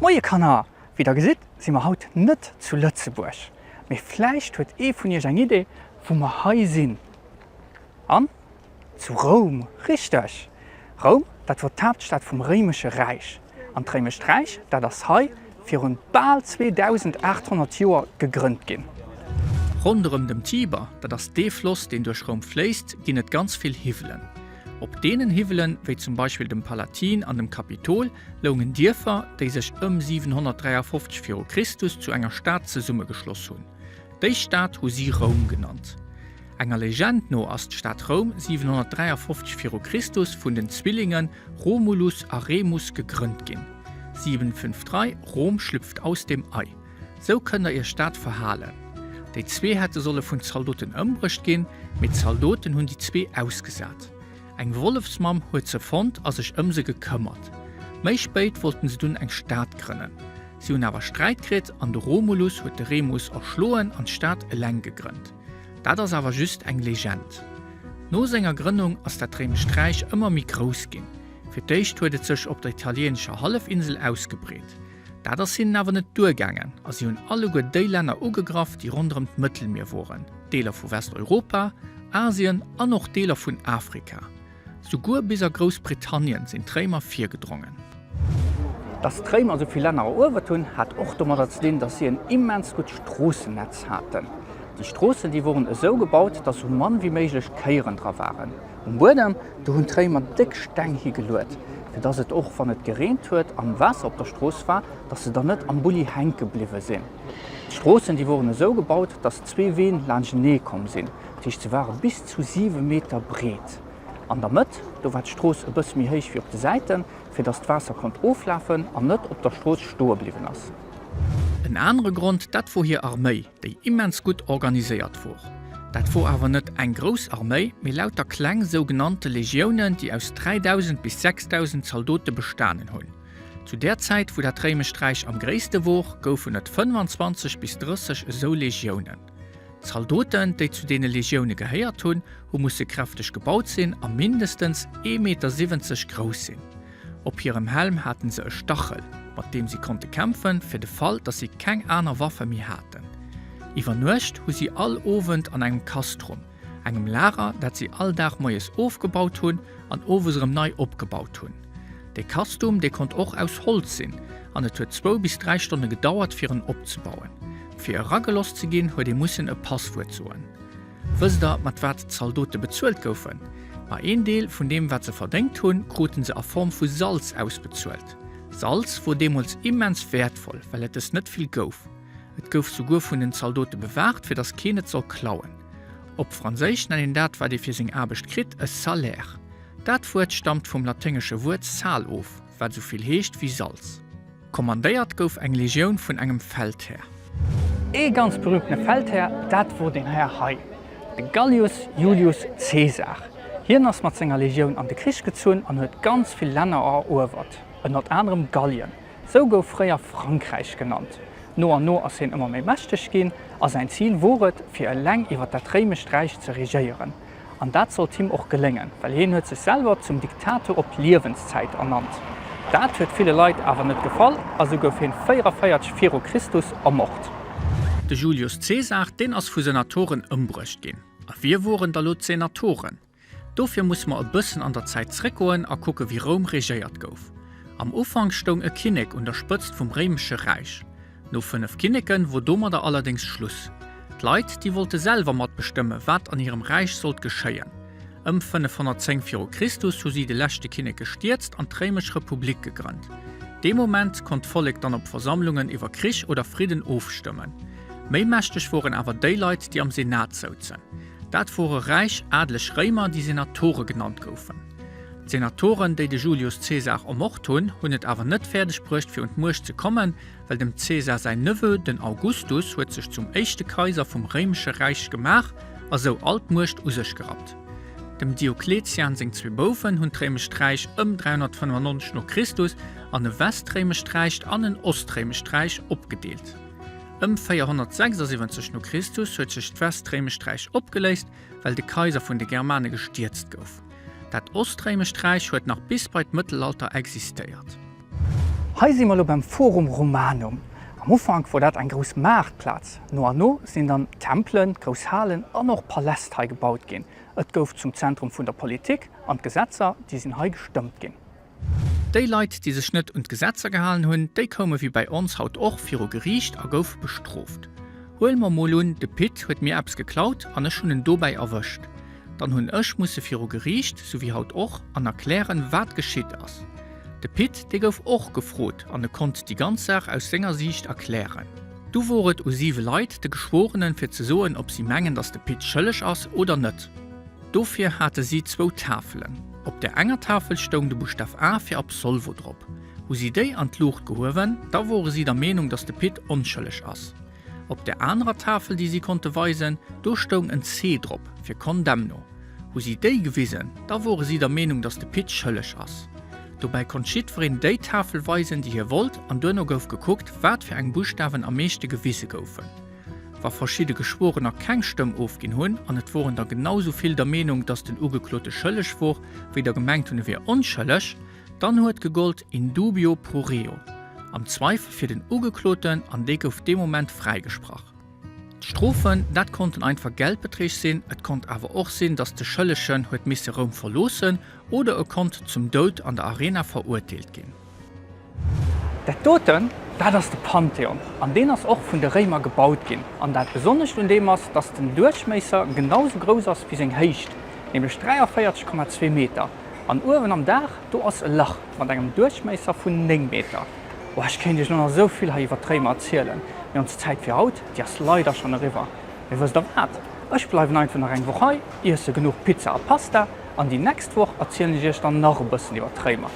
Moie Kanner! Wéi der gesitt si mer haut net zu Lëtzebuerg, mee vläicht huet ee vun iech eng Idee wou mer hei sinn? An? Zu Roum, richteg! Roum, dat wor d'Haaptstad vum Réimesche Räich. An d'Réimescht Räich, dat ass hei virun bal 2.800 Joer gegrënnt ginn. Ronderëm dem Tiber, dat ass dee Floss, deen duerch Roum fléisst, ginn et ganz vill Hiwwelen. Op deenen Hiwwelen, wéi zum Beispill dem Palatin an dem Kapitol, loungen Dierfer, déi sech ëm 753 viru Christus zu enger Stad zesummegeschloss hunn. Déi Stad hu si Roum genannt. Enger Legend no ass d'Stad Roum 753 viru Christus vun den Zwillinge Romulus a Remus gegrënnt ginn. 753 Rom schlüpft aus dem Ei, sou kënnt der iech dat verhalen. Déi zwee hätte solle vun Zaldoten ëmbruecht ginn, mee d'Zaldoten hunn déi zwee ausgesat. Eng Wollefsmamm huet se fonnt a sech ëm se gekëmmert. Méi spéit wollten se dunn eng Stad grënnen. Si hunn awer Sträit kritt an de Romulus huet de Remus erschloen an d'Stad eleng gegrënnt. Dat ass awer just eng Legend. No senger Grënnung ass dat réimescht Räich ëmmer méi grouss ginn. Fir d'éischt huet et sech op der italieenescher Hallefinsel ausgebreet. Dat ass hinnen awer net duergaangen a si hunn alleguer déi Länner ugegraff, déi ronderëm d'Mëttelmier woren, Deeler vu Westeuropa, Asien an och Deeler vun Afrika. Souguer bis a Groussbritannien sinn d'Réimer virgedrongen. Datt d'Réimer esou vill Länner eruewert hunn, hat och domadder ze dinn, datt si en immens gutt Stroossennetz haten. Déi Stroossen, déi woren esou gebaut, datt esou mann wéi méiglech Kéieren dra waren. Um Buedem, do hunn d'Réimer déck Steng higeluet, fir datt et och wann et gereent huet an Waasser op der Strooss war, datt se dann net am Bulli hänke bliwwe sinn. D'Stroossen, déi woren esou gebaut, datt zwee Ween laanschtenee komm sinn, dat heescht se ware bis zu 7 Meter breet. An der Mëtt, do war d'Strooss e bësse méi héich wéi op de Säiten, fir datt d'Waasser konnt oflafen an net op der Strooss stoe bliwwen ass. En anere Grond, dat wor hir Arméi. déi immens gutt organiséiert wor. Dat wor awer net eng grouss Arméi, mee lauter kleng sougenannte Legiounen, déi aus 3.000 bis 6.000 Zaldote bestanen hunn. Zu där Zäit, wou dat réimescht Räich am gréisste wor, goufen et 25 bis 30 esou Legiounen. D'Zaldoten, déi zu deene Legioune gehéiert hunn, hu musse kräfteg gebaut sinn a mindestens ee Meter siwwenzeg grouss sinn. Op hirem Helm hate se e Stachel, mat deem si konnte kämpfen, fir de Fall, datt si keng aner Waffe méi haten. Iwwer Nuecht hu si all Owend an engem Castrum, engem Lager, dat si all Dag moies ofgebaut hunn an owes erëm nei opgebaut hunn. Dee Castum, dee konnt och aus Holz sinn an et huet zwou bis dräi Stonne gedauert, fir en opzebauen. Fir erageloss ze ginn, huet ee mussen e Passwuert soen. Wësst der, mat wat d'Zaldote bezuelt goufen? Ma een Deel vun deem, wat se verdéngt hunn, krute se a Form vu Salz ausbezuelt. Salz wor deemools immens wäertvoll, well et es net vill gouf. Et gouf souguer vun den Zaldote bewaacht, fir datt keen et soll klauen. Op Franséisch nennt een dat, wat ee fir seng Aarbecht kritt, e salaire. Dat Wuert stamt vum laténgesche Wuert sal of. Wat esou vill heescht wéi Salz. Kommandéiert gouf eng Legioun vun engem Feldhär. Ee ganz berüümtene Feldhär, dat wor deen Här hei, de Gallius Iulius Caesar. Hien ass mat senger Legioun an de Krich gezunn an huet ganz vill Länner eruewert, ënnert anerem Gallien. Sou gouf fréier Frankräich genannt. No an no ass hien ëmmer méi mächteg ginn a säin Zil wor et, fir eleng iwwer dat réimescht Räich ze regéieren. An dat sollt him och geléngen, well hien huet sech selwer zum Diktator op Liewenszäit ernannt. Dat huet ville Leit awer net gefall a sou gouf hien 44 viru Christus ermort. De Julius Cäsar, deen ass vu Senatoren ëmbruecht ginn. A wie woren da lo d'Senatoren? Dofir muss mer e bëssen an der Zäit zréckgoen a kucke wéi Roum regéiert gouf. Am Ufank stoung e Kinnek un der Spëtzt vum Réimesche Räich. No 5 Kinneken wor domadder allerdéngs Schluss. D'Leit, déi wollte selwer matbestëmmen, wat an hirem Räich sollt geschéien. Ëm 510 viru Christus hu si de leschte Kinnek gestierzt an d'Réimesch Republik gegrënnt. Dee Moment konnt d'Vollek dann op Versammlungen iwwer Krich oder Fridden ofstëmmen. Méi mächteg woren awer déi Leit, déi am Senat souzen. Dat wore räich, adleg Réimer, déi Senatore genannt goufen. D'Senatoren, déi de Julius Caesar ermort hunn, hunn et awer net fäerdeg bruecht fir un d'Muecht ze kommen, well dem Caesar säin Neveu, den Augustus, huet sech zum éischte Kaiser vum réimesche Räich gemaach a sou all d'Muecht u sech gerappt. Dem Diokletian seng zwee Bouwen hunn d'réimescht Räich ëm 395 no Christus an e westréimescht Räich an en ostréimescht Räich opgedeelt. Ëm 476 no Christus huet sech d'westréimescht Räich opgeléist well de Kaiser vun de Germane gestierzt gouf. Dat Ostréimescht Räich huet nach bis bei d'Mëttelalter existéiert. Hei si mer elo beim Forum Romanum. Am Ufank wor dat eng grouss Maartplaz. No an no sinn dann Tempelen, grouss Halen an och Paläst hei gebaut ginn. Et gouf zum Zentrum vun der Politik an d'Gesetzer, déi sinn hei gestëmmt ginn. Déi Leit, déi sech net un d'Gesetzer gehalen hunn, déi koume wéi bei ons haut och viru Geriicht a goufe bestrooft. Huele mer mol un, de Pit huet mir eppes geklaut an ech hunn en dobäi erwëscht. Dann hunn ech musse viru Geriicht, sou wéi haut och, an erklären, wat geschitt ass. De Pit, dee gouf och gefrot an e konnt déi ganz Saach aus senger Siicht erklären. Du wor et u siwe Leit, de Geschworenen, fir ze soen, ob si mengen, dass de Pit schëlleg ass oder net. Dofir hate si zwou Tafelen. Op der enger Tafel stoung de Buschtaf A fir Absolvo drop. Hu si déi an d'Luucht gehuewen, da wore si der Meenung, datt de Pit onschëlleg ass. Op der anerer Tafel, déi si konnte weisen, do stoung en C drop fir Condemno. Hu si déi gewisen, da wore si der Meenung, datt de Pit schëlleg ass. Dobäi konnt jiddwereen déi Tafel weisen, déi hie wollt an duerno gouf gekuckt, wat fir eng Buschtawen am meeschte gewise goufen. Wa verschidde Geschworener keng Stëmm ofginn hunn, an et woren der genau esou vill der Meenung, datt den Ugeklote schëlleg wor, wéi der gemengt hunn e wier onschëlleg, dann huet gegollt in dubio pro reo, am Zweifel fir den Ugekloten, an dee gouf dee Moment fräigesprach. D'Strofen, dat konnten einfach Geldbeträg sinn, et konnt awer och sinn, datt de Schëllegen huet misse Roum verloossen oder e konnt zum Doud an der Arena verurteelt ginn. Dat doten, dat ass de Pantheon, an deen ass och vun de Réimer gebaut ginn. An dat Besonnescht un deem ass, datt den Duerchméisser genau sou grouss ass wéi seng Héicht, nämlech 43,2 Meter. An uewen am Daach, do ass e Lach mat engem Duerchméisser vun 9 Meter. Oh, ech kéint Iech elo nach esou vill hei iwwer d'Réimer erzielen, mee ons Zäit fir haut, déi ass leider schonn eriwwer. Mee wësst Der wat, ech bleiwen einfach nach eng Woch hei, iesse genuch Pizza a Pasta, an déi nächst Woch erzielen ech Iech dann nach e bëssen iwwer d'Réimer.